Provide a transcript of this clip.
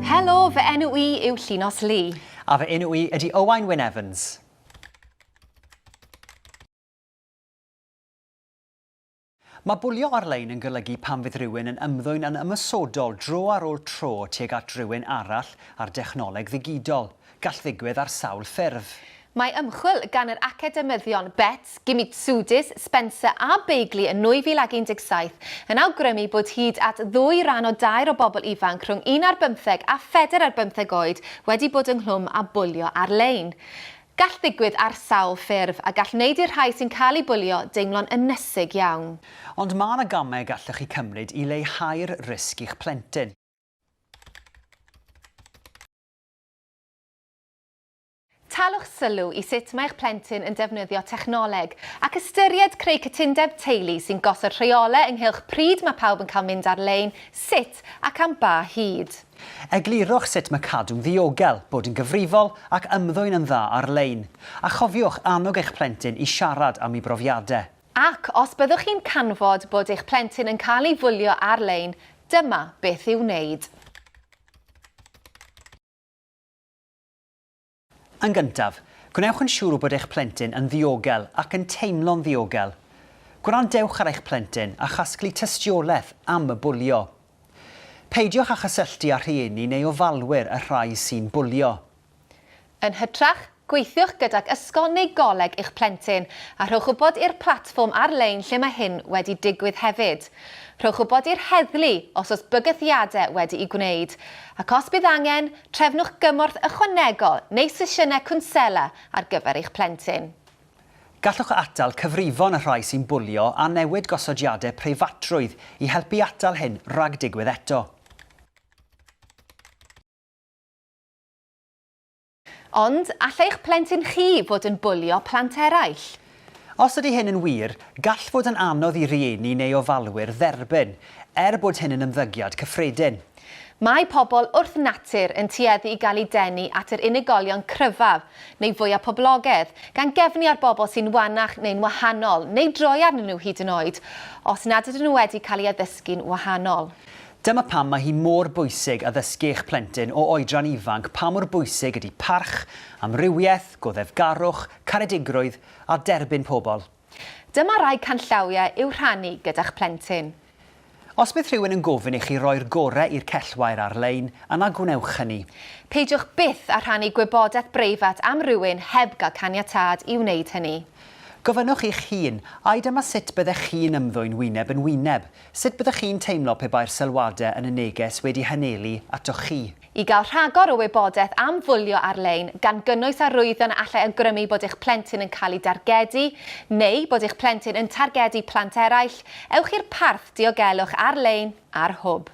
Helo, fy enw i yw Llinos Lee. A fy enw i ydy Owain Wyn Evans. Mae bwlio ar-lein yn golygu pan fydd rhywun yn ymddwyn yn ymosodol dro ar ôl tro tuag at rywun arall ar dechnoleg ddigidol. Gall ddigwydd ar sawl ffurf. Mae ymchwil gan yr academyddion Betts, Gimitsudis, Spencer a Begley yn 2017 yn awgrymu bod hyd at ddwy ran o dair o bobl ifanc rhwng un ar bymtheg a phedair ar bymtheg oed wedi bod ynghlwm â bwlio ar-lein. Gall ddigwydd ar sawl ffurf, a gall wneud i'r rhai sy'n cael eu bwlio deimlo'n ynysig iawn. Ond mae yna gamau y gallwch chi cymryd i leihau'r risg i'ch plentyn. Taliwch sylw i sut mae eich plentyn yn defnyddio technoleg, ac ystyried creu cytundeb teulu sy'n gosod rheolau ynghylch pryd mae pawb yn cael mynd ar-lein, sut ac am ba hyd. Eglurwch sut mae cadw'n ddiogel, bod yn gyfrifol ac ymddwyn yn dda ar-lein, a chofiwch annog eich plentyn i siarad am ei brofiadau. Ac os byddwch chi'n canfod bod eich plentyn yn cael ei fwlio ar-lein, dyma beth i'w wneud. Yn gyntaf, gwnewch yn siŵr bod eich plentyn yn ddiogel ac yn teimlo'n ddiogel. Gwrandewch ar eich plentyn a chasglu tystiolaeth am y bwlio. Peidiwch â chysylltu â rhieni neu ofalwyr y rhai sy'n bwlio. Yn hytrach, gweithiwch gydag ysgol neu goleg eich plentyn a rhowch wybod i'r platfform ar-lein lle mae hyn wedi digwydd hefyd. Rhowch wybod i'r heddlu os oes bygythiadau wedi'u gwneud, ac os bydd angen, Trefnwch gymorth ychwanegol neu sesiynau cwnsela ar gyfer eich plentyn. Gallwch atal cyfrifon y rhai sy'n bwlio a newid gosodiadau preifatrwydd i helpu atal hyn rhag digwydd eto. Ond, all eich plentyn chi fod yn bwlio plant eraill? Os ydy hyn yn wir, gall fod yn anodd i rieni neu ofalwyr dderbyn, er bod hyn yn ymddygiad cyffredin. Mae pobl wrth natur yn tueddu i gael eu denu at yr unigolion cryfaf, neu fwya poblogedd, gan gefnu ar bobl sy'n wanach neu'n wahanol, neu droi arnyn nhw hyd yn oed, os nad ydyn nhw wedi cael eu addysgu'n wahanol. Dyma pam mae hi mor bwysig addysgu eich plentyn o oedran ifanc pa mor bwysig ydy parch, amrywiaeth, goddefgarwch, caredigrwydd a derbyn pobl. Dyma rai canllawiau i'w rhannu gyda'ch plentyn. Os bydd rhywun yn gofyn i chi roi'r gorau i'r cellwair ar-lein, yna gwnewch hynny. Peidiwch byth â rhannu gwybodaeth breifat am rywun heb gael caniatâd i wneud hynny. Gofynnwch eich hun, Ai dyma sut byddech chi'n ymddwyn wyneb yn wyneb? Sut byddwch chi'n teimlo pe bai'r sylwadau yn y neges wedi hanyelu atoch chi? I gael rhagor o wybodaeth am fwlio ar-lein, gan gynnwys arwyddion a allai awgrymu bod eich plentyn yn cael ei dargedu neu bod eich plentyn yn targedu plant eraill, ewch i'r parth diogelwch ar-lein ar Hwb.